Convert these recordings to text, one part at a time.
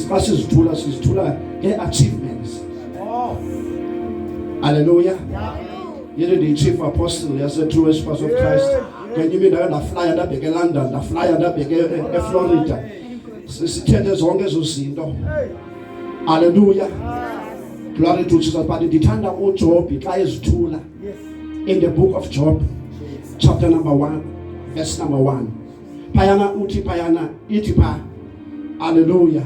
xa sizithula sizithula ngee-achievements halleluya yile ndiyi-chief apostle yase-true worshippers of christ ngenye imini ndake ndaflaya ndabheke elondon ndaflaya ndabheke eflorida sithethe zonke ezo zinto halleluya glory to jesus but ndithanda ujobhi xa ezithula in the book of job chapter number 1 verse number 1 phayana uthi phayana ithi pha aleluya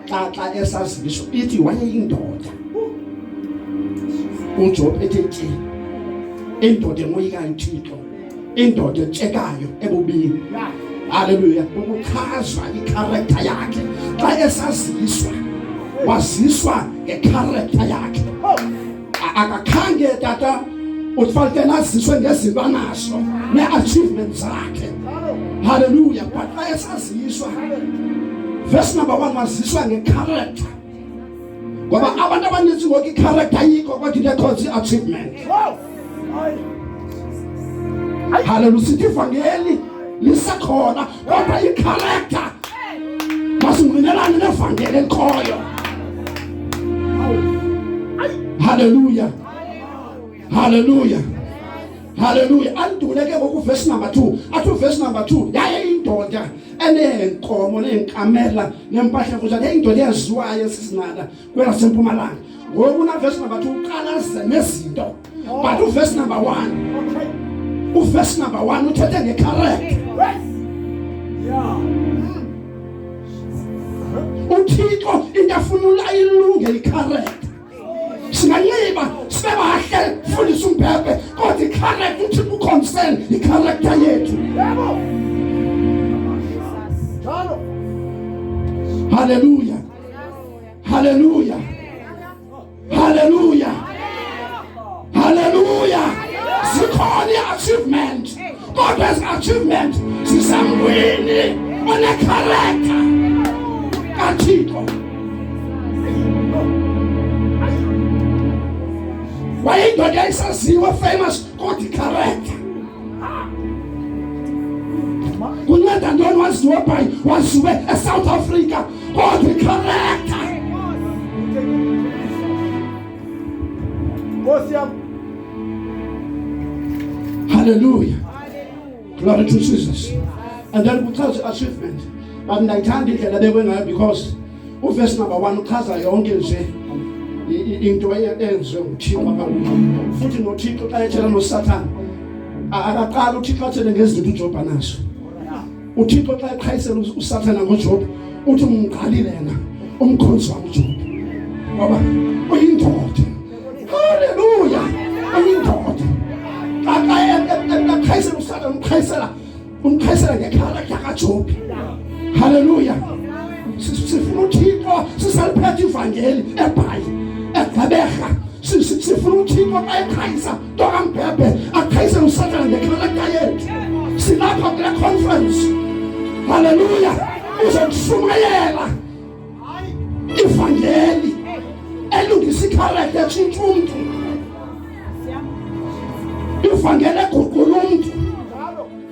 xa xa esaziso ithi wayeyindoda ujob ethe tye indoda emoyikayo uthixo indoda etshekayo ebubini haleluya ukuchaza ikharektha yakhe xa esaziswa waziswa ngekharektha yakhe akakhange tata ufanele naziswe ngezinto anazo ne-achievement zakhe halleluya but xa esaziswa verse number one waziswa ngekharacter ngoba abantu abaninzi ngoku ikharacter yikho kodwa into ekhonza i-achievement halleluya sithi ivangeli lisekhona kodwa ikharektha masingqinelane nevangeli elikhoyo haleluya haleluya haleluya anduleke ngokuvesi number 2 athi uvesi number 2 yaye indoda eneenkomo neenkamela nempahla kunjalo yayindoda eyaziwayo esisinanda kwelasempumalanga ngoku navesi number 2 uqalaze nezinto but uverse number one uverse number one uthethe ngecarect uthixo into afuna ulayilunge icarect singanxiba sibe bahle fundisa umbhebhe kodwa icarect uthixo uconcern icaracter yethu yebo Hallelujah. Hallelujah. Haleluya, haleluya. Zikhona i-achievement kodwa ezi-achievement zisamngwini onekharektha kaThixo. Wayindoda esaziwa famous kodwa ikharektha kunceda ntoni waziwe bhayi waziwe esouth africa Hallelujah. Glory to Jesus. And then we touch achievement. But ndayithanda indlela bekwe ngayo because uverse number 1 uchaza yonke nje into eyenziwe nguThixo abakuyo. Futhi noThixo xa etshela noSathane akaqala uThixo athele ngezinto uJob anazo. uthixo xa eqhayisela usathana ngojob uthi umqalile yena umkhonzi wam ujob ngoba uyindoda haleluya uyindoda aqhayisela usathana umqhayisela umqhayisela ngekhala yakajob haleluya sifuna uthixo sisaliphetha ivangeli ebhayi egqeberha sifuna uthixo xa eqhayisa ntokamphephe aqhayise usathana ngexhala layethu silapha kule conference haleluya uzokushumayela ivangeli elungisa ikharete tshintsha umntu ivangeli eguqula umntu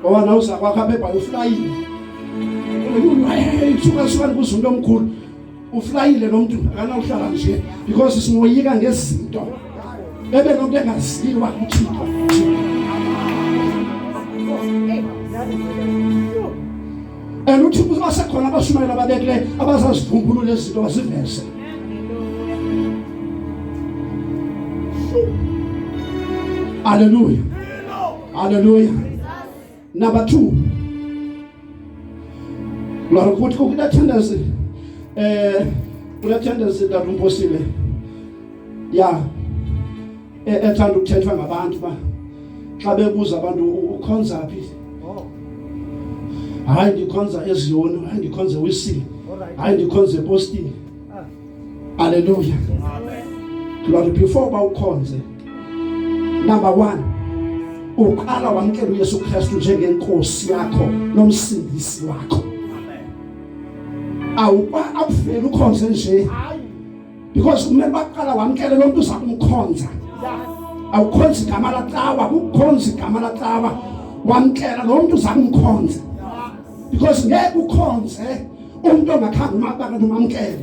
Ngoba lo uza kwakho apha ebhayi uflayile. Suka suka ndikuzumntu omkhulu. Uflayile lo mntu akanawuhlala nje because simoyika ngezinto. Bebe nomntu engaziyo uba uthixo. And uthixo ubasekhona abashumayela ababekileyo abazazivumbulula izinto baziveze. Hallelujah. Haleluya. Number 2. Mara ukuthi kukuna tendency eh kuna tendency that umphosile. Yeah. E, ethanda ukuthethwa ngabantu ba xa bebuza abantu ukhonza phi oh. hayi ndikhonza eziyoni hayi ndikhonza wisile hayi ndikhonza epostini Haleluya. Lord, before uba ukhonze number one uqala wamkela uYesu Kristu njengenkosi yakho nomsindisi wakho awuba akufeli ukhonze nje because kumele baqala wamkele lo mntu uzakumkhonza awukhonzi igama lacawa kukhonzi igama lacawa wamkela lo mntu uzakumkhonza because ngeke ukhonze umntu ongakhange umabanga nomamkele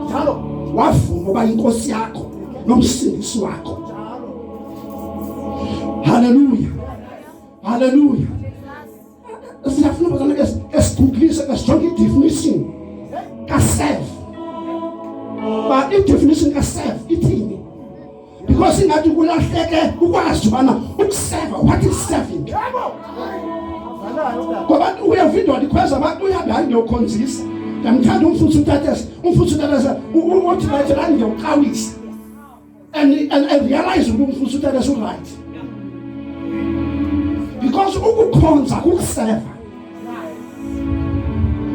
njalo wavuma uba inkosi yakho nomsindisi wakho haleluya haleluya siyafuna bazana ke esigugulise ke sijonge idefinition kaself ba idefinition kaself ithini because ingathi kulahleke ukwazi ubana ukuseva what is serving ngoba uyeva indoda ikhweza abantu uyabe hayi ngiyokhonzisa ndiyamthanda umfuthu utatesa umfuthu utatesa uthi right hayi ngiyawuqawisa and and I realize ukuthi umfuthu utatesa uright because ukukhonza kukuseva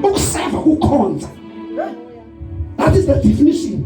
ukuseva kukhonza that is the definition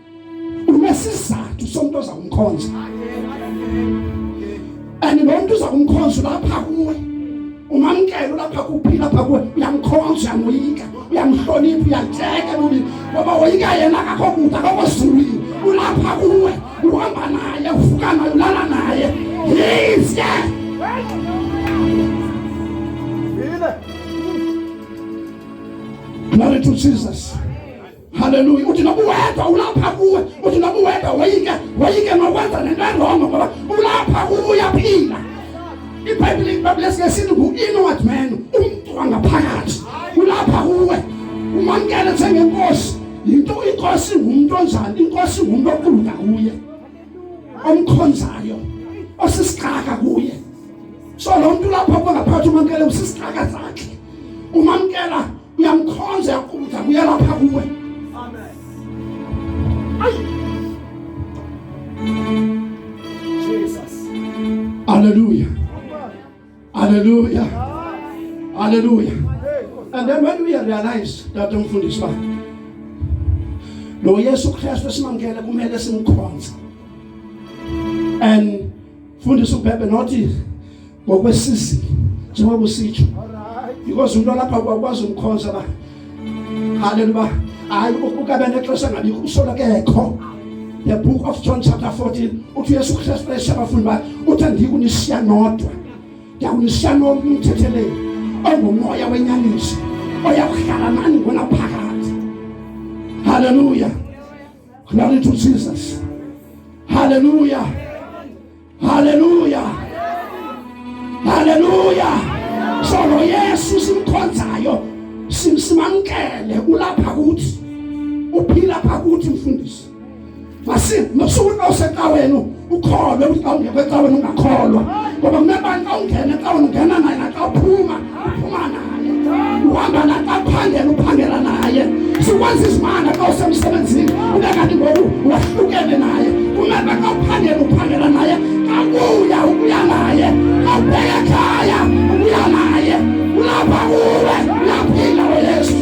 unesizathu somntu oza kumkhonza and lo mntu uza kumkhonza ulapha kuwe umamkele ulapha kuphi lapha kuwe uyamkhonza uyamoyika uyamhlonipha uyatyeka lulini ngoba woyika yena kakho kude akokho zulwini ulapha kuwe uhamba naye uvuka naye ulala naye yize Glory to Jesus. Haleluya. Utinabuwedwa ulapha kuwe. Utinabuwedwa wayike wayike nokwenza nento erongo ngoba ulapha kuwe uyaphila. IBhayibhile iBhayibhile singesithi ngu-inward man, umntu wangaphakathi. Ulapha kuwe. Umamkele njengenkosi. Yinto inkosi ngumntu onjani? Inkosi ngumntu oquluka kuye. Omkhonzayo. Osisixaka kuye. So lo mntu lapha kuwe ngaphakathi umamkele usisixaka zakhe. Umamkela uyamkhonza yakubuza kuyalapha kuwe amen ayi jesus haleluya haleluya haleluya and then when we realize that umfundisi ba lo yesu kristu esimamkele kumele simkhonze and Fundisa ubhebe nothi ngokwesizini njengoba usitsho because umuntu olapha kwakwazi umkhonza ba haleluya hayi ukabe nexesha ngabikho usola kekho the book of john chapter 14 uthi uyesu kristu esha abafundi bakhe uthi andikunisiya nodwa ndiyakunisiya nomthetheleli ongumoya wenyaniso oyakuhlala nani ngona phakathi haleluya Glory to Jesus. Haleluya, haleluya, haleluya. Solo Yesu simkhonzayo simamkele, ulapha kuthi, uphila pha kuthi mfundisi. Masukuthi osecaweni ukholwe ukuthi xa ungekho ecaweni ungakholwa ngoba kunebani xa ungena ecaweni ungena naye naxa uphuma uhamba naye aphangela uphangela naye sikwazi izimana xa usemsebenzini ube kanti ngoku wahlukene naye kumele xa uphangela uphangela naye kabuya ubuya naye kabheke khaya ubuya naye ulapha kuwe uyaphila weyesu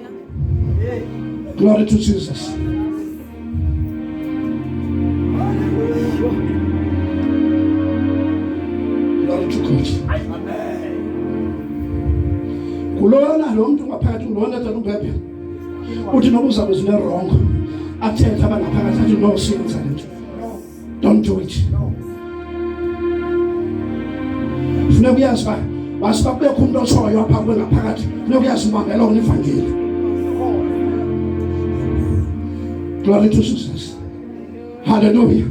Glory to Jesus. Glory to God. Kulona lo mntu ngaphakathi kulona tata umbhebhe. Uthi noba uzabe zinerongo. Athethe abangaphakathi athi no siyenza le nto. Don't do it. No. Funeka uyazi uba masiba kubekho umntu otshoyo apha kuwe ngaphakathi funeka uyazi umamela ona ivangeli glory to jesus haleluya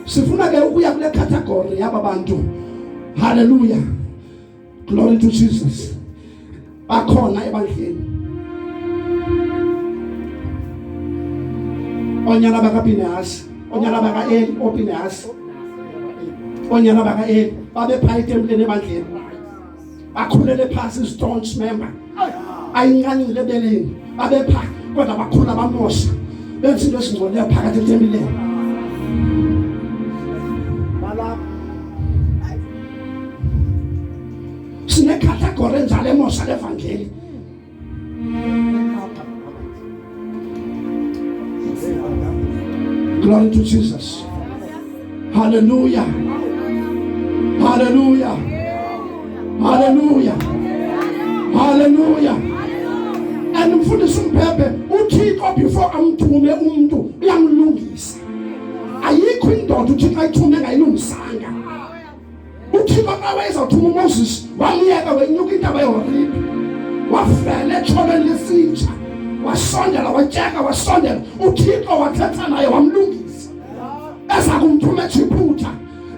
sifuna ke ukuya kule category yaba bantu haleluya Glory to Jesus. Bakhona ebandleni. Onyana bakaPinehasi, onyana bakaEli oPinehasi. Onyana bakaEli babephayithe emntwini ebandleni. Bakhulele phasi istaunch member. ayinkanile ebeleni babepha kodwa bakhula bamosha benza into ezingcolileyo phakathi etempileni sinekhathagore enjalo emosha levangeli Glory to Jesus. Hallelujah. Hallelujah. Hallelujah. Hallelujah. And mfundisi umphepe uthixo before amthume umntu uyamlungisa ayikho indoda uthixo ayithume ngayilungisanga uthixo xa wayezawuthuma umoses waliyeka wenyuka intaba yehoribhi wafela etsholweni lesinja wasondela watyeka wasondela uthixo wathetha naye wamlungisa eza kumthuma ejiputa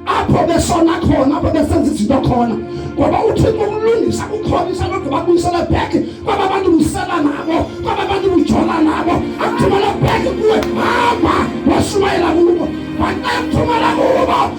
apho besona khona apho besenza izinto khona ngoba uthixo ukulungisa kukholisa kodwa babuyisele bheke kwaba bantu busela nabo kwaba bantu bujola nabo akuthumele bheke kuwe hamba washumayela kubo waxa kuthumela kubo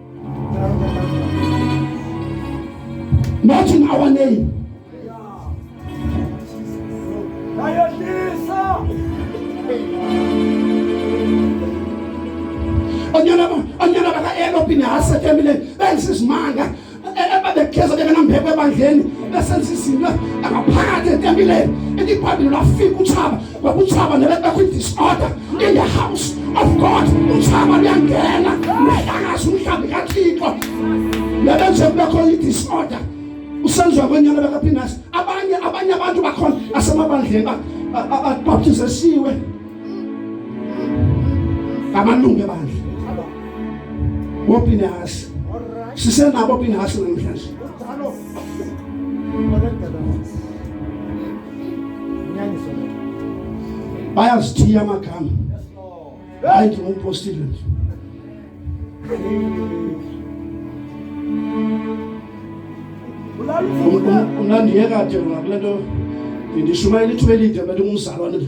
Not in our name. onyana baka-elopini hasetyemile bengisizimanga ebabegeza ke benambeko ebandleni besenza izinto angaphakathi etempileni elibhayibhile lwafika utshaba Ngokutshaba nalapha kwi-disorder in the house of God utshaba luyangena nehlangazi umhlambi kathixo nabenze kubekho i-disorder usenziwa kwenyana bekaphinasi abanye abanye abantu bakhona asemabandleni babaptizesiwe ngamalungu ebandla wophinasi sisenabo phinasi namhlanje bayazithiya amagama hayi ndingumpostile nje unandiyeka de ngakule nto ndishumayela ithuba elide mna ndingumzalwane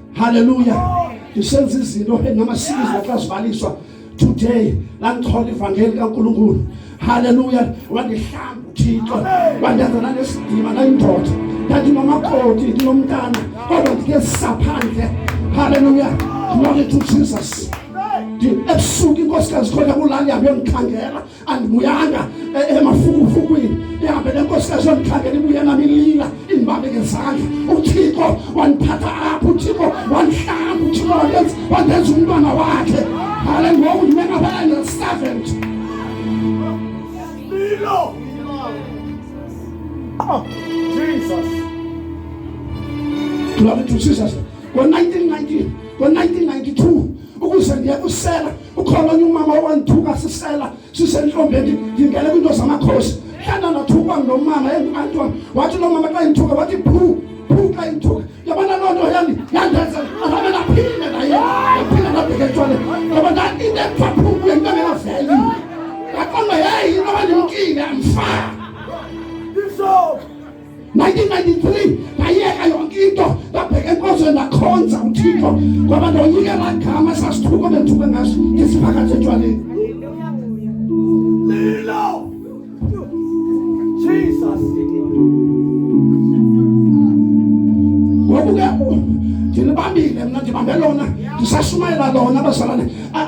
Hallelujah. Ndisenza izinto namasiko izokazivaliswa today landichola ivangeli kaNkulunkulu. Hallelujah. Wandihlamba uThixo. Wandenza nanesidima nayindoda. Ndandinomakoti ndinomntana kodwa ndike saphandle. Hallelujah. Glory to Jesus. Ebusuku inkosikazi khona kulali yabe ngikhangela andibuyanga emafukufukwini e, e, ihambe nenkosikazi yondikhangela ibuye nam ilila indibambe ngezandla uthixo wandiphatha apho uthixo wandihlamba uthixo wandenza wandenza umntwana wakhe hale ngoku ndimenabaya nge-servant lilo oh jesus glory to jesus ngo-1992 ukuze ndiye kusela ukhona onye umama owandithuka sisela sisentombeni ndingele kwiinto zamakhosi hlanda ndathukwa nomama engumantwana wathi loo mama xa indithuka wathi phu phu xa indithuka yabona loo nto yani yandenza azabe ndaphinde naye ndaphinde ndabheke etshwale yaba into ekuthiwa phu kuye into engekaveli ndaqonda yeyi into abandimkile mfana 1993 ndayeka yonke into ndabheka enkozweni ndakhonza uthixo ngoba ndoyike laa gama sasithuko bendithuke ngaso ndisiphakathi etywaleni ngoku ke ndilibambile mna ndibambe lona ndisashumayela lona abazalane ah,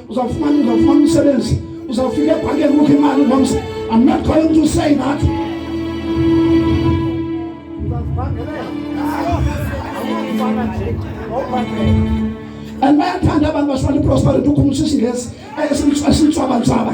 uzawufumana uzawufumana umsebenzi uzawufika ebhankeni kukho imali ngomsa i'm not going to say that and bayathanda abantu basifana iprosperity ukhumisa isingesi esintswabantswaba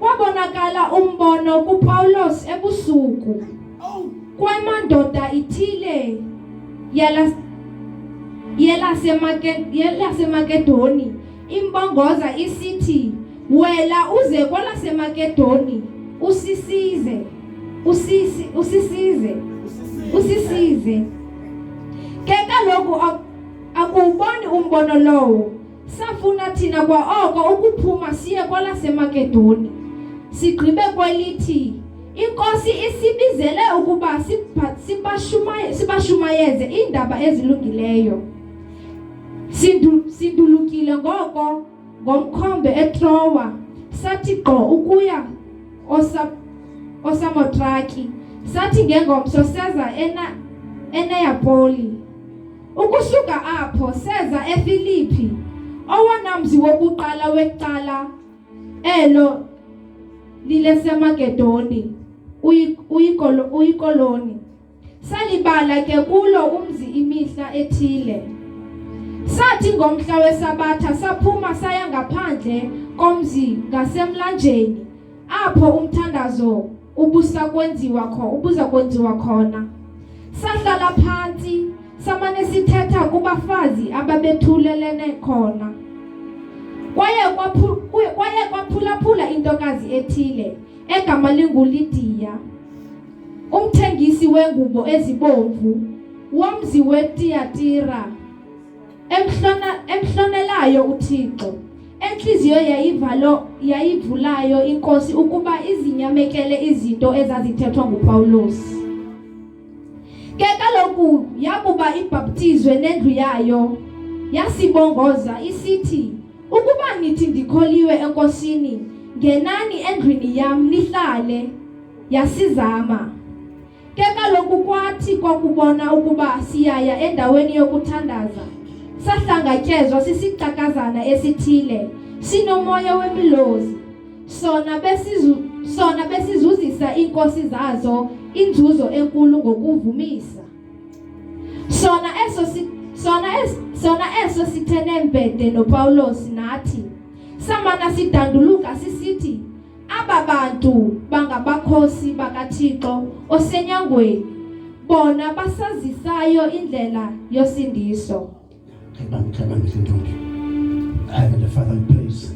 Wabonakala umbono kuPawulos ebusuku. Kwamandoda ithile yala yelaseMakedoni imbongoza isithi wela uze kwalaseMakedoni usisize usisi usisize usisize ke kaloku akuboni umbono lowo Safuna thina kwaoko ukuphuma siye kwalaseMakedoni, sigqibe kwelithi iNkosi isibizele ukuba sibashumayeze iindaba ezilungileyo. Sindu, sindulukile ngoko ngomkhombe eTrowa sathi gqo ukuya osa, osamotraki sathi ngengomso seza ena, eneyapoli Ukusuka apho seza eFilipi, owona mzi wokuqala wecala elo lileseMagedoni uyikoloni. Salibala ke kulo umzi imihla ethile. Sathi ngomhla wesabatha saphuma saya ngaphandle komzi ngasemlanjeni apho umthandazo ubusa kwenziwa kho ubuza kwenziwa khona sahlala phantsi samane sithetha kubafazi ababethulelene khona kwaye kwaye kwaphulaphula intokazi ethile egama linguLidiya umthengisi wengubo ezibomvu womzi weTiyatira Emhlona emhlonelayo uThixo. Entliziyo yayivalo yayivulayo inkosi ukuba izinyamekele izinto ezazithethwa nguPawulos. Ke kaloku yakuba ibhaptizwe nendlu yayo yasibongoza isithi ukuba nithi ndikholiwe enkosini ngenani endlwini yam nihlale yasizama Ke kaloku kwathi kwakubona ukuba siyaya endaweni yokuthandaza, sahlangatyezwa sisicakazana esithile, sinomoya wemilozi. Sona besizu sona besizuzisa iinkosi zazo inzuzo enkulu ngokuvumisa. Sona eso si sona es sona eso sithe nembede noPawulos nathi samana sidanduluka sisithi Aba bantu bangabakhosi bakaThixo osenyangweni, bona basazisayo indlela yosindiso. Heavenly Father, we praise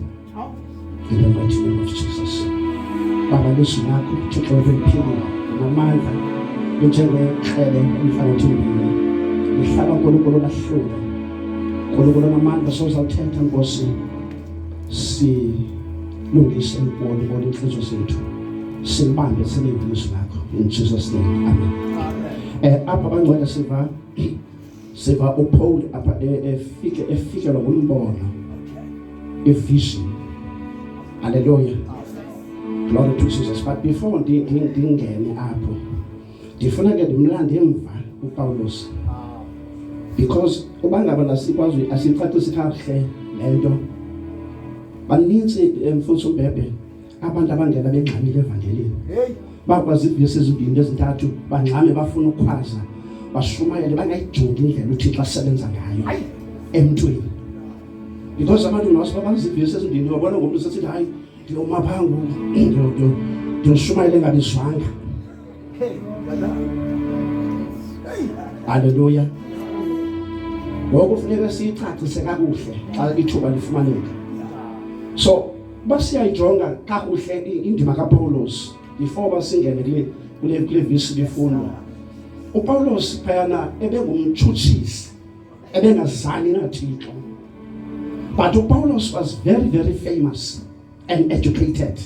in the mighty name of Jesus. Baba lizwi lakho Thixo liphila namandla linjengekrele umfana othembile lihlala nkulunkulu lahlule nkulunkulu namandla sozawuthetha nkosi silungise lubone bona iintliziyo zethu silibambe silinge ilizwi lakho in jesus name amen um apha bangcwele siva siva upaul apha e, efike efikelwa ngumbono ivision haleluya glory to jesus but before ndingene apho ndifuna ke ndimlande emva upawulos because uba ngaba lasikwazi asicacisi kakuhle le nto banintsi eh, mfundisi umbhebhe abantu abangena bengxamile evangelini bakwazi iivesi ezimbini ezintathu bangxame bafuna ukhwaza bashumayele bangayijongi indlela uthixo asebenza ngayo emntwini because abantu ngawusiba bazi iivesi ezimbini babona ngomntu sesithi hayi ndiyoma phaa ngoku ndiyoshumayele engabizwanga Haleluya. Ngoku funeka siyicacise kakuhle xa ithuba lifumaneka. So basiyayijonga kakuhle indima kaPawulos before basingene kule kule kule visi lifundwa. UPawulos phayana ebengumtshutshisi ebengazani naThixo. But uPawulos was very very famous. and educated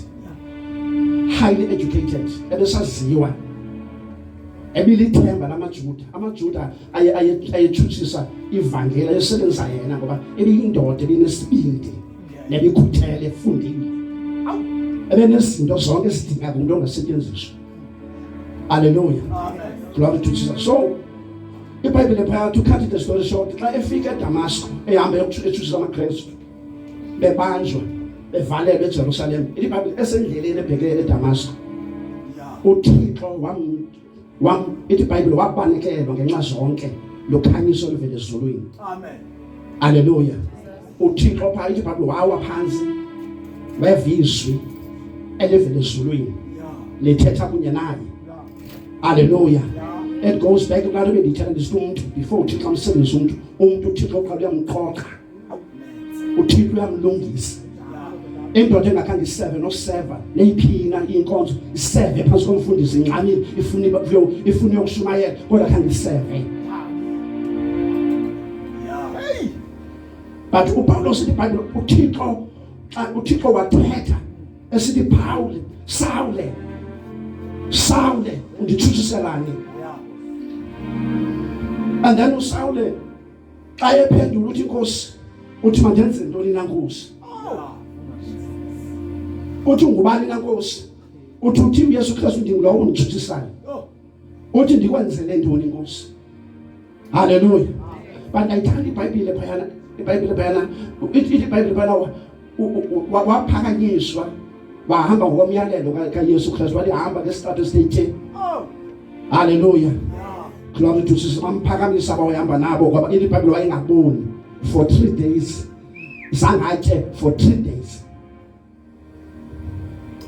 highly educated ebesaziwa ebilithemba lamajuda amajuda ayetshutshisa ivangeli ayesebenzisa yena ngoba ebiyindoda ebinesibindi nebikhuthele efundile ebenezinto zonke ezidingeka umuntu ongasetyenziswa aleluya glory to jesus so ibhayibhile phaya to cut the story short xa efika edamasko ehamba etshutshisa amakristu bebanjwa bevalelwe eJerusalem ilibhayibhile esendleleni ebhekele eDamasko uThixo wam wam ithi ibhayibhile wabanikelwa ngenxa zonke lokhanyiso oluvele ezulwini amen haleluya uThixo phaa ithi ibhayibhile wawa phansi weva izwi elivele ezulwini lithetha kunye naye haleluya it goes back to ka re be di tshela di se motho before o thitla mosebetsi motho o motho o thitla o kgwa di ya mokgoka uthixo uyamlungisa indoda engakhange iseve noseva neyiphina inkonzo iseve phansi komfundisi incamile ifuna ifuna yokushumayela kodwa khange iseve but upawulos ibhayibhile uthixo xa uthixo wathetha esithi phawule sawule sawule undithusiselani and then usawule xa ephendula uthi inkosi uthi mandenze ntoni na nkosi uthi ngubani na nkosi uthi uthi uyesu kristu ndingulowo unditshuthisayo uthi ndikwenzele ntoni inkosi haleluya bantu ayithanda ibhayibhile phayana ibhayibhile phayana ithi ibhayibhile phayana waphakanyiswa wahamba ngokomyalelo kaYesu Kristu walihamba ngesitrato esithe oh. haleluya glory to Jesus bamphakamisa bawayihamba nabo ngoba ile Bible wayengaboni for 3 days sangatye for 3 days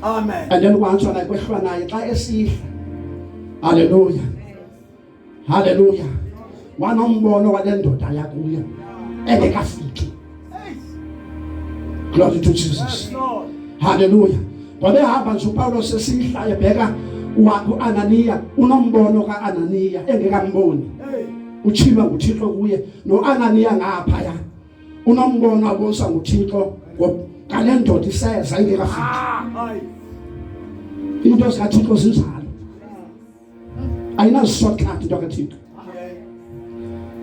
amen and then wantswa naye kwehlwa naye xa esihla haleluya Haleluya! Wana umbono wale ndoda yakuyo engekafiki. Glory to Jesus. Haleluya! Wabehamba nje uPawulo sesihlaye bheka uAnaniya unombono kaAnaniya engekamboni. Utshiba nguThixo kuye noAnaniya ngapha ya. Unombono abonisa nguThixo ngale ndoda iseza ingekafiki. Into zikaThixo zinjalo. ayinaziswa khanti into kaThixo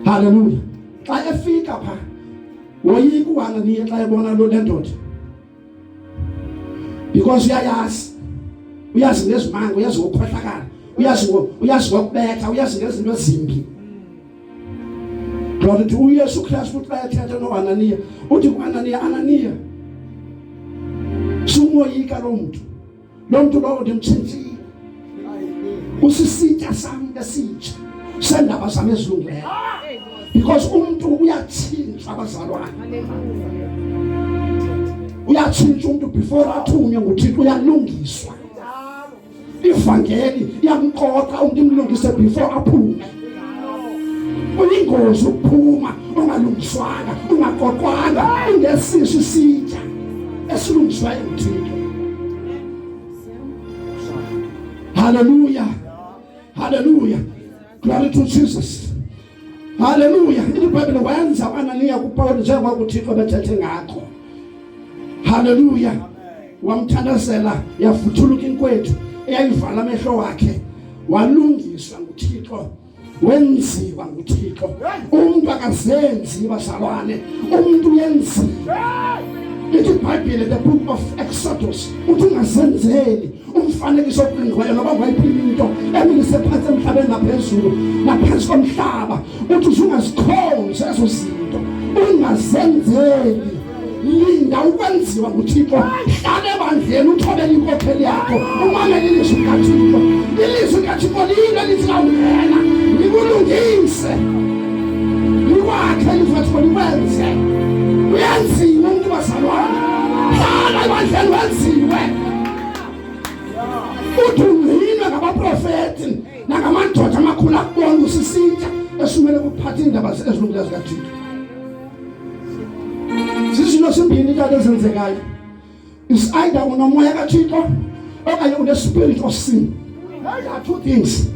haleluya xa efika pha woyika uhana niye xa ebona lo lendoda because uyayazi uyazi ngezimanga uyazi ngokukhohlakala uyazi uyazi ngokubetha uyazi ngezinto ezimbi Glory to uYesu Kristu futhi bayathetha noAnaniya uthi kuAnaniya Ananiya sumoyika lo muntu loo mntu lowo ndimtshintshile usisitya sami esitsha sendaba zam ezilungileyo because umntu uyatshintsha abazalwane uyatshintsha umntu before athunywe nguthixo uyalungiswa ivangeli iyamqoqa umntu imlungise before aphume uyingozi ukuphuma ungalungiswanga ungaqoqwanga ingesiso isitya esilungiswa emthini haleluya haleluya glory to jesus haleluya ibhayibhile wenza u-ananiya kupawuli njengoba uthixo bethethe ngakho haleluya wamthandazela yavuthuluka inkwethu eyayivala amehlo wakhe walungiswa nguthixo wenziwa nguthixo umntu akazenzi bazalwane umntu uyenziwa ithi ibhayibhile the book of exodus uthi ungazenzeli umfanekiso oqingqiweyo noba ngayiphi into emilise phantsi emhlabeni naphezulu naphansi komhlaba uthi usungazikhonzi ezo zinto ungazenzeli linda ukwenziwa nguthixo hlale ebandleni uthobele inkokheli yakho umamele ilizwi likathixo ilizwi likathixo liyinto elithi kawungena likulungise likwakhe ilizwi kathixo likwenze uyenziwe umntu bazalwane hlala ebandleni wenziwe uthi ungcinwe ngabaprofeti nangamadoda amakhulu akubona usisitsha esumele ukuphatha iindaba ezilungileyo zikathixo zizinto simbini iinto ezenzekayo is either unomoya kathixo okanye unespirit of sin there are two things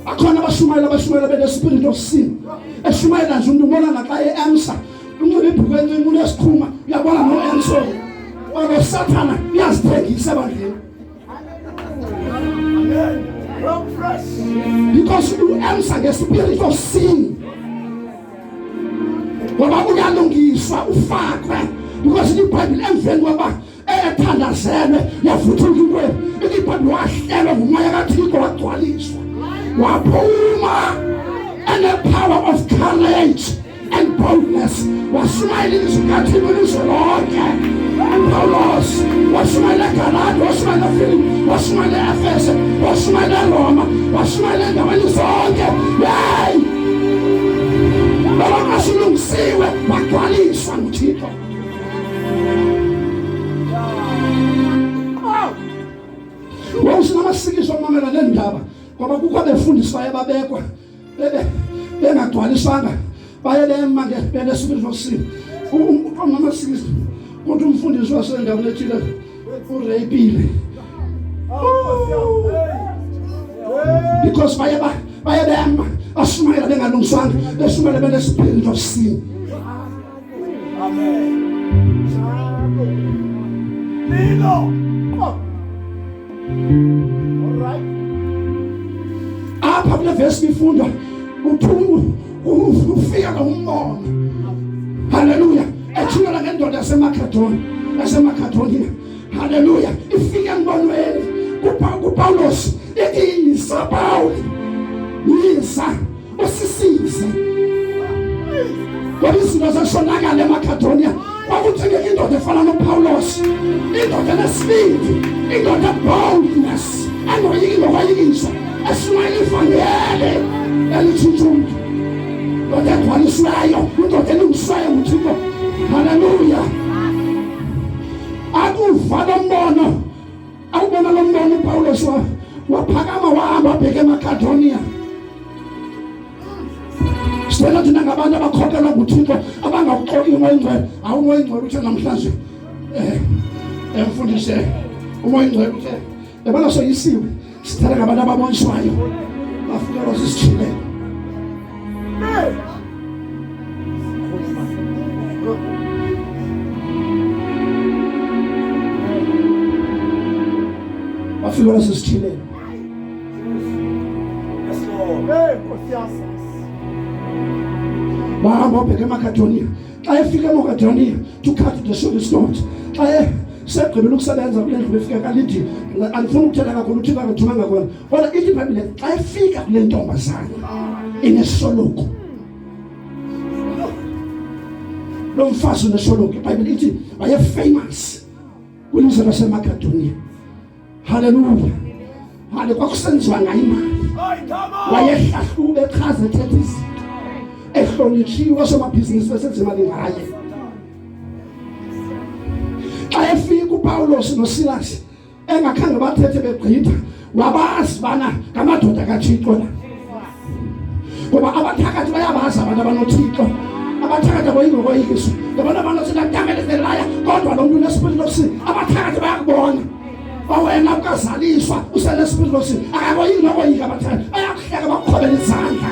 akhona abashumayela abashumayela benespirit of sin eshumayela nje umntu ubona naxa e-emsa unxibe ibhruku encinci unesikhuma uyabona no-emso olo sathana uyazithengisa ebandleni Because you answer the spirit of sin. Ngoba uyalungiswa ufakwe because iBhayibheli emveni kwaba ethandazelwe yavuthuka inkweli iBhayibheli wahlelwa ngumoya kaThixo wagcwaliswa waphuma and the power of courage and boldness washumayela ilizwi kathini ilizwe lonke upawulos washumayela egalati washumayela efilipi washumayela eefese washumayela eroma washumayela endaweni zonke yeyi babangasilungisiwe bagcwaliswa nguthixo wawusinamasikiswa mamela neendaba ngoba kukho abefundiswayo babekwa bengagcwalisanga baye bema ngesibili sosini umama sisi kodwa umfundisi wasendaweni ethile ureyipile because baye baye bema ashumayela bengalungisanga beshumayela benesibili sosini apha kule vesi nifunda uthungu ufika ngawumbona haleluya ethulala ngendoda yasemakadoni yasemakadoniya haleluya ifike embonweni kupawulos ithi yisa pawuli yisa basisizi ngoba izinto zashonakala emagadoniya kwakuthengeka indoda efana nopawulos indoda enesibindi indoda boldness anoyiki nokwayikisa eshumayela ivangeli elitshitsha umntu ndoda egcwaliswayo indoda elungiswayo nguthixo haleluya akuva lombono Awubona lo mbona uPawulos waphakama wahamba wabheke eMakedoniya sicela thina ngabantu abakhokelwa nguthixo abangawuxoki umoya ingcwele awumoya ingcwele uthe namhlanje um emfundise umoya ingcwele uthe yabona soyisiwe sithanda ngabantu ababoniswayo bafunelwa zisithile Wafika nasesithileni wahamba wabheke emakadoniya xa efika emakadoniya to cut the short story xa segqibela ukusebenza kule ndlu befika kalidi andifuni ukuthetha kakhulu uthixo akathumanga kona Kodwa ithi iBhayibhile xa ifika kule ntombazana inesoluko. Lo mfazi unesoluko. IBhayibhile ithi waye famous kwilizwe laseMakedoniya. Hallelujah. Hale kwakusenziwa ngayo imali. Wayehlahlube echaza ethetha izinto. Ehlonitshiwe osomabhizinisi besenza imali ngaye. Xa efika uPawulos noSilas engakhange bathethe begqitha wabazi bana ngamadoda kathixo la ngoba abathakathi bayabazi abantu abanothixo abathakathi abayingokoyikiso ngabona abantu sinadamele zelaya kodwa lo mntu unesipilini lokusini abathakathi bayakubona wawena ukazaliswa usenesipilini lokusini akakoyingokoyika abathakathi bayakuhleka bakukhobela izandla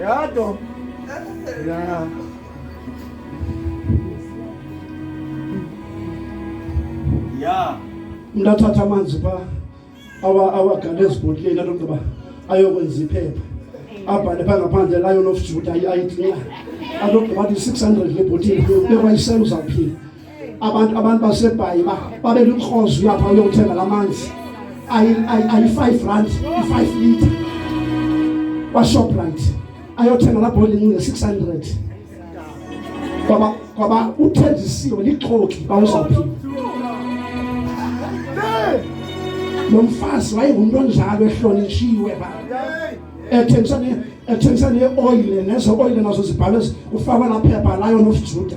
Ya to. Ya. Ya. Ndathatha amanzi pha awa awagale ezibhotileni anogqiba ayokwenza iphepha abhale pha ngaphandle layo nofujuda i-id na anogqiba athi 600 lebhotile bekwa iselo uzawuphila abantu abantu basebhayi babe lukhozi uyapha uyothenga lamanzi ayi ayi 5 rand 5 liter kwa Shoprite ayothenga la bonding nge 600 kwaba kwaba uthenjisiwe lixoki bawuzawuphi lo mfazi wayengumntu onjalo ehlonitshiwe ba ethengisa ne ethengisa ne oil nezo oil nazo zibhalwe ufakwa la phepha layo nofujuda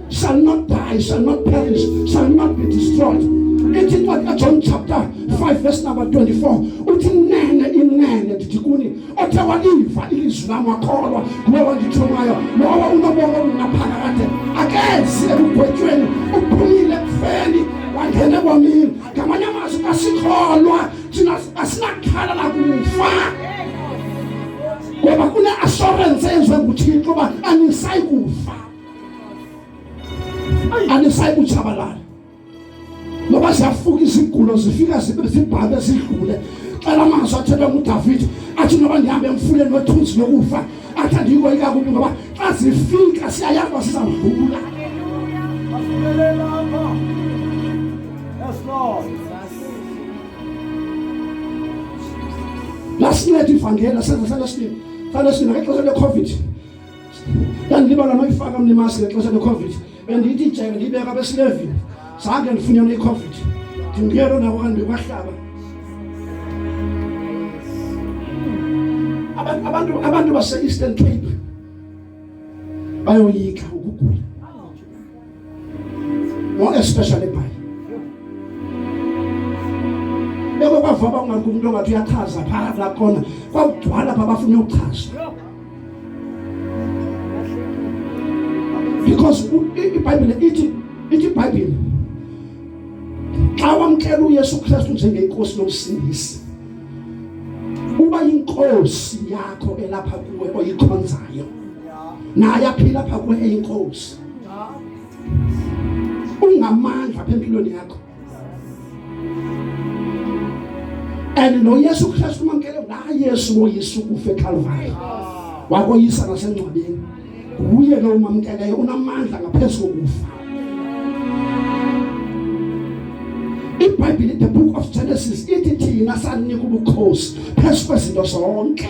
shall not die, shall not perish, shall not be destroyed. It's in what John chapter 5, verse number 24. Uthi nene inene ndithi kuni othe waliva ilizwi lam wakholwa nguwe wandithumayo lowo unobomi obungaphakade akezi ekugwetyweni uphumile ekufeni wangena ebomini ngamanye amazwi asikholwa thina asinakhala lakufa ngoba kune-assurance enziwe nguthixo uba anisayi kufa anisayi kutshabalala ngoba ziyafuka izigulo zifika zibhabhe zidlule xa la mazwi athethwa ngudavide athi noba ndihambe emfuleni wethunzi lokufa athi andiyiko ikakubi ngoba xa zifika siyayazi uba sizawudlula lasinceda ivangela senza salesinini salesinini ngexesha lecovid ndandilibala noyifaka mna imaski ngexesha lecovid bendiyithi ijeke ndiyibeka besilevini zange ndifunyane icovid ndinguyelo nako kanti ndikwahlaba abantu abantu base-eastern cape bayoyika ukugula more especially by beko kwava uba ungathi umntu ongathi uyachaza phaa kulaa kona kwakugcwala pha bafuna ukuchaza because ibhayibhile ithi ithi ibhayibhile xa wamkela uyesu kristu njengenkosi nomsindisi uba yinkosi yakho elapha kuwe oyikhonzayo naye aphila pha kuwe eyinkosi ungamandla apha empilweni yakho and noyesu kristu umamkele ngayesu woyesu kufe ekalvari wakoyisa nasengcwabeni nguye lo umamkeleyo unamandla ngaphezu kokufa ibhayibhile the book of genesis ithi thina saninika ubukhosi phezu kwezinto zonke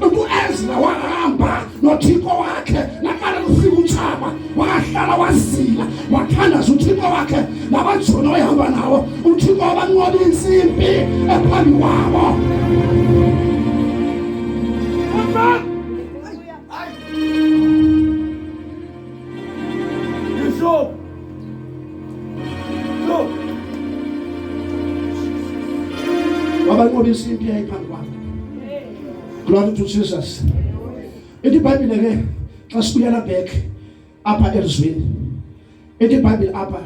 Uthi uEzra wahamba noThixo wakhe naqala lufika utshaba wahlala wazila wathandaza uThixo wakhe nabajoni wayehamba nawo uThixo wabanqoba insimbi ephambi kwabo wabanqoba insimbi yayiphambi kwabo Glory to Jesus. Ithi iBhayibhile ke xa sibuyela back apha elizweni. Ithi iBhayibhile apha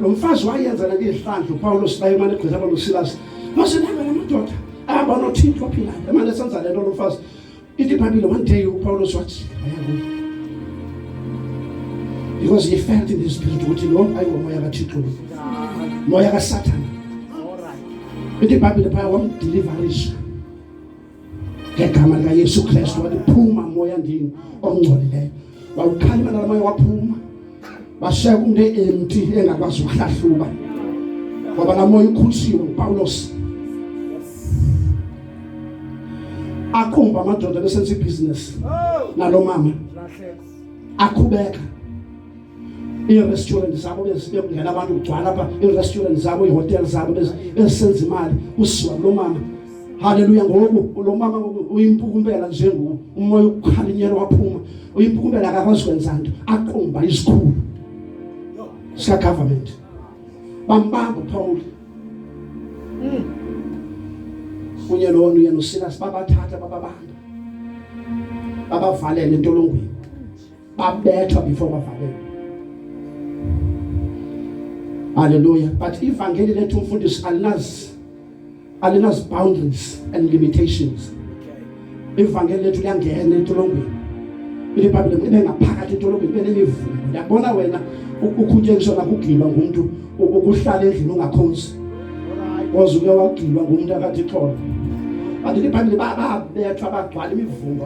lo mfazi wayenza le izihlandlo uPawulos naye manje egqitha abantu uSilas. Mase nanga namadoda ahamba noThixo ophilayo. Emane senza le nto lo mfazi. If the Bible one day you Paul was what? Because he felt in his spirit what you know, I will moya ka Thixo. Moya ka Satan. If the Bible the power won't deliver us. Ngegama likaYesu Kristu wathi phuma moya ndini ongcolileyo. wawukhanya imali abanye waphuma bashaya kumntu e-empty engakwazi ukuhlahluba ngoba laa moya ukhulishiwe ngupawulos aqumba amadoda besenza ibhizinesi nalo mama akhubeka iirestaurant zabo bezibe kungena abantu kugcwala apha iirestaurant zabo iihotele zabo bezisenza imali kusiwa kulo mama Haleluya ngoku lo mama uyimpukumbela nje ngoku umoya ukukhalinyela waphuma uyimpukumbela akakwazi kwenza nto aqumba isikhulu sika government bambamba uPaul mm. kunye lona uyena uSilas babathatha bababamba babavalele entolongweni babethwa before bavalelwe haleluya but ivangeli lethu umfundisi alinazi alinazi boundaries and limitations ivangeli lethu liyangena entolongweni ilibhayibhile ibe ngaphakathi entolongweni ibe nemivumo yabona wena ukhuntshengiswa nakugilwa ngumntu ukuhlala endlini ungakhonzi koze uke wagilwa ngumntu akathi xolo kanti libhayibhile babethwa bagcwala imivumba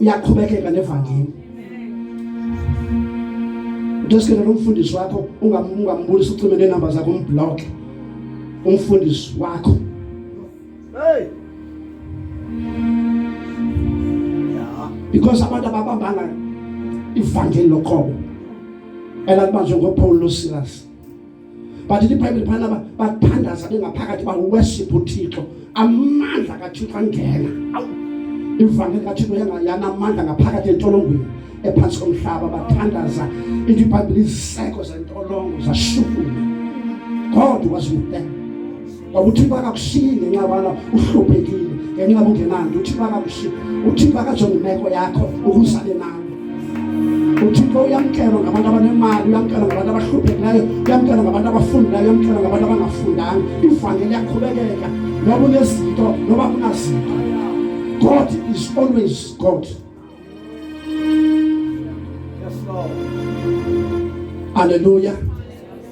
uyaqhubekeka nevangeli Ndosikele umfundisi wakho ungambulisa ucime nenamba zakho umblock umfundisi wakho Hey because abantu ababambanga ivangeli loqobo elakubanjwe ngoPaul noSilas but libhayibhile phana bathandaza bengaphakathi bawuweshipha uthixo amandla kathixo angena ivangeli kathixo yanamandla ngaphakathi entolongweni ephantsi komhlaba bathandaza into ibhayibhile iziseko zentolongo zashukuma god was with them ngoba uthixo akakushiyi ngenxa yobana uhluphekile ngenxa yoba ungenanto uthixo akakushiyi uthixo akajonge imeko yakho ukusale nayo uthixo uyamkelwa ngabantu abanemali uyamkelwa ngabantu abahluphekileyo uyamkelwa ngabantu abafundileyo uyamkelwa ngabantu abangafundanga ivangeli yaqhubekeka noba unezinto noba kunazinto god is always god Haleluya.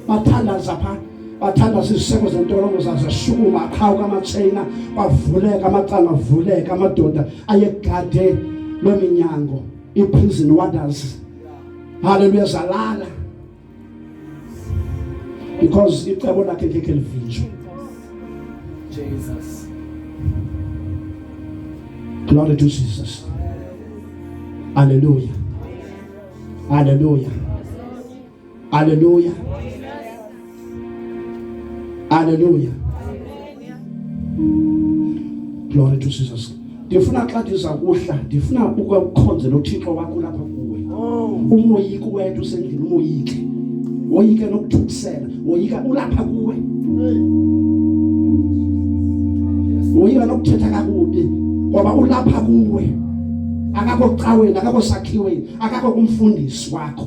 Bathandaza phaa bathandaza iziseko zentolongo zazo shukuma aqhawuka amatsheyina kwavuleka amacala avuleka amadoda ayegade loo minyango i-prison wonders haleluya zalala because icebo lakhe ngeke livinjwe Jesus Glory to Jesus Hallelujah Hallelujah Hallelujah Hallelujah Glory to Jesus. Ndifuna xa ndiza kuhla, ndifuna ukukhonza noThixo wakho lapha kuwe. Oh. Umoyika uwedwa usendlini umoyike. Woyike nokuthukisela, woyika ulapha kuwe. Woyika nokuthetha kakubi ngoba ulapha kuwe. Akakho caweni, akakho sakhiweni, akakho kumfundisi wakho.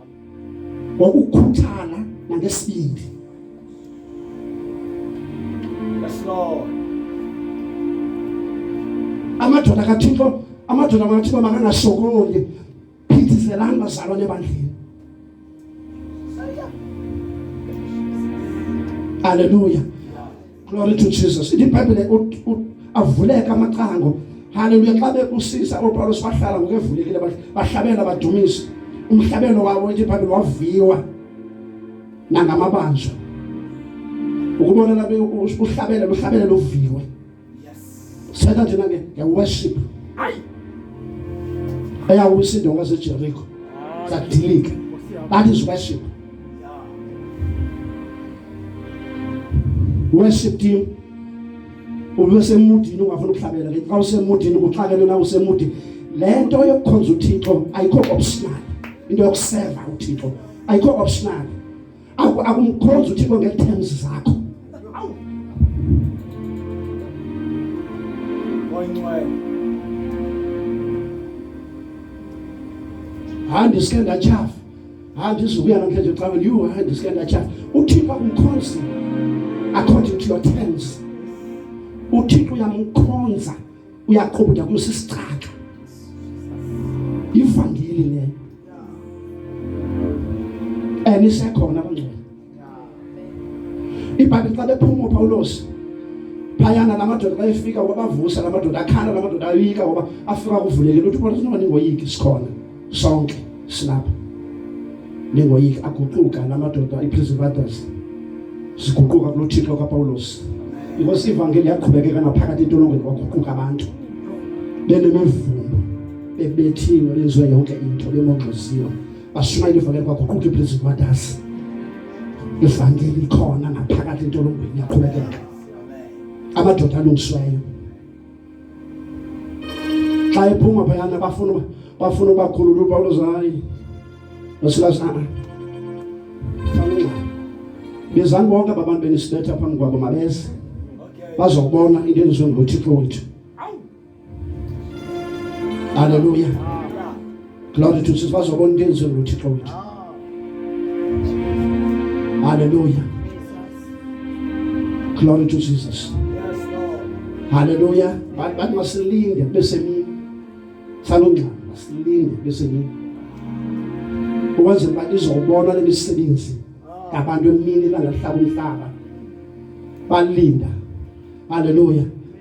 ngokukhuthala nangesibindi amadoda kathixo amadoda makathixo makangasokoli phithizelani bazalwane ebandleni aleluya Glory to Jesus. IBhayibhile avuleka amacango. Haleluya xa bekusisa uPawulos bahlala ngokevulekile bahlabela badumisa. Umhlabelo wabo iBhayibhile waviwa nangamabanjwa. Ukubona labe uhlabele luhlabele luviwe. Seta thina ke ngeworship. Hayi. Eyawusa indawo ngaseJeriko. Sadilika. That is worship. Worship team ubesemudini ungafuna ukuhlabela ke xa usemudini kuxakele na usemudini le nto yokukhonza uthixo ayikho optional into yokuseva uthixo ayikho optional akumkhonza uthixo ngee-terms zakho hayi ndisuke ndatyhafa hayi ndizukuya namhlanje caweni yhu hayi ndisuke ndatyhafa uthixo akumkhonzi according to your terms uthixo uyamkhonza uyaqhuba uya kumisa isitrato ivangeli leyo and isekhona abangcwele ibhayibhile xa bephuma upawulosi phayana la madoda xa efika uba bavusa la madoda akhala la madoda ayika uba afika kuvulekile uthi upawulosi noba ndingoyiki sikhona sonke silapha ningoyiki aguquka la madoda i-prison brothers siguquka kulo thixo kapawulos inkosi ivangeli yaqhubekeka naphakathi entolongweni kwaguquka abantu benemivumbo bebethiwe benziwe yonke into bemongxoziwe bashumayela ivangeli kwaguquka i-prison brothers ivangeli ikhona naphakathi entolongweni yaqhubekeka amadoda alungisiweyo xa ephuma phayana bafuna uba bafuna ubakhulula upawulos hayi nosilas a fanengxayo bizani bonke aba bantu benisibetha phambi kwabo mabeze bazokubona into enziwe nguthixo wethu haleluya Glory to Jesus. Bazobona into enzulu uThixo wethu. Hallelujah. Glory to Jesus. Hallelujah. Bathi masilinde bese mini. Salungqa masilinde bese mini. Ukwenzela uba izobona lemisebenzi yabantu emini langahlaba umhlaba. Balinda. Hallelujah.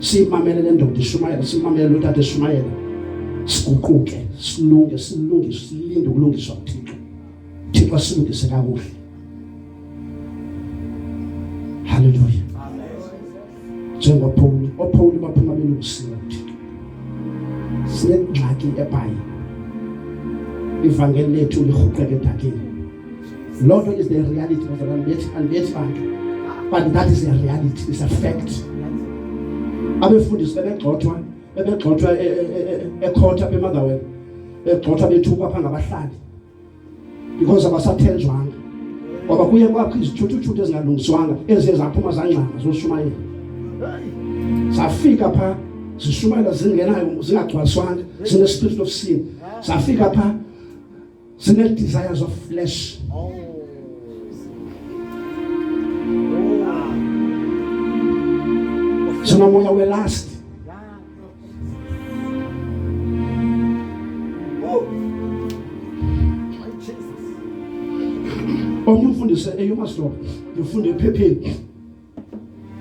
siyimamele le ndoda ishumayela simamele lo tata eshumayela siguquke silunge silunge silinde ukulungiswa kuthixo thixo asilungise kakuhle haleluya njengophawuli ophawuli baphuma belungisiwe kuthixo sinengxaki ebhayi ivangeli lethu lirhuqeke edakeni Loo nto is the reality of andibethi andibethi bantu but that is a reality is a fact abefundisi bebegxothwa bebegxothwa e, e, e, ekhotha apha emangaweni begxothwa bethukwa phaa ngabahlali because abasathenjwanga ngoba kuye kwakho izithuthuthuthi ezingalungiswanga eziye zaphuma zangxanga zoshumayela zafika phaa zishumayela zingenayo zingagcwaliswanga zine-spirit of sin zafika phaa Single desires of flesh. Oh. Sina moya we last. Omnye umfundise eyomaslobo, ngifunde ephepheni.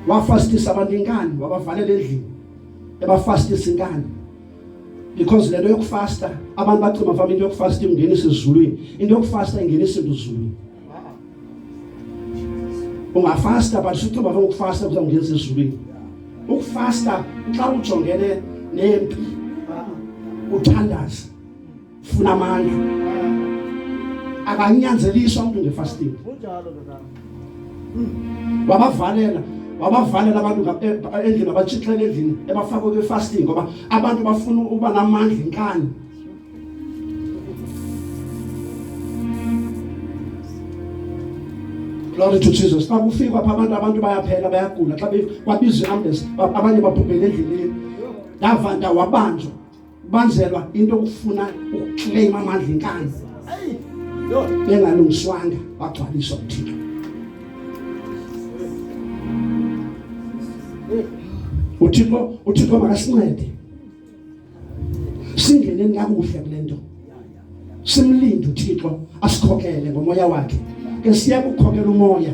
wafastisa abantu inkani wabavalela endlini ebafastisa inkani because lento yokufasta abantu bacima fama into yokufasta ingenisa ezulwini into yokufasta ingenisa into ezulwini ungafasta but usucima fama ukufasta kuza kungenisa ezulwini ukufasta xa ujongene nempi uthandaza funa amandla akanyanzeliswa umuntu ngefasting kunjalo ndoda wabavalela wabavalela abantu eh, endlini abatshixele endlini ebafaka kwe fasting ngoba abantu bafuna uba namandla inkani Glory to Jesus. Xa kufika pha abantu abantu bayaphela bayagula xa kwabizwe ambulance abanye babhubhele endleleni. Davanda wabanjwa ubanjelwa into okufuna ukukleyima amandla inkani bengalungiswanga wagcwaliswa uthixo uthixo uthixo makasincede singeneni kakuhle kule nto simlinde uthixo asikhokele ngomoya wakhe ke siya kukhokela umoya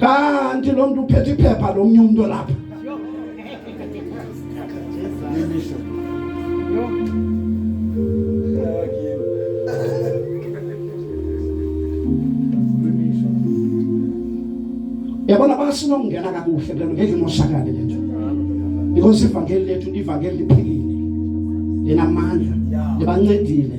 kanti lo mntu uphethe iphepha lo mnye umntu olapha yabona basinokungena kakuhle kulento ngeke imoshakale le nto because ivangeli lethu livangeli liphilile linamandla libancedile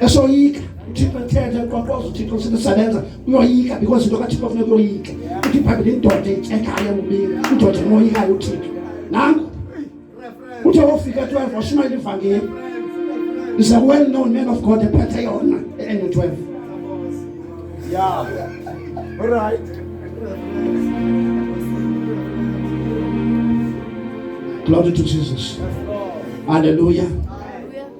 esoyika uthixo ethetha eqwaqwaza uthixo sithi sabenza uyoyika because into kathixo funeka uyoyika uthi phambili indoda ityekayo emubini indoda enoyikayo uthixo nanku uthe wofika twelve washumayela ivangeli is a well known man of god ephethe yona ene twelve yeah. All right. Glory to Jesus. Hallelujah.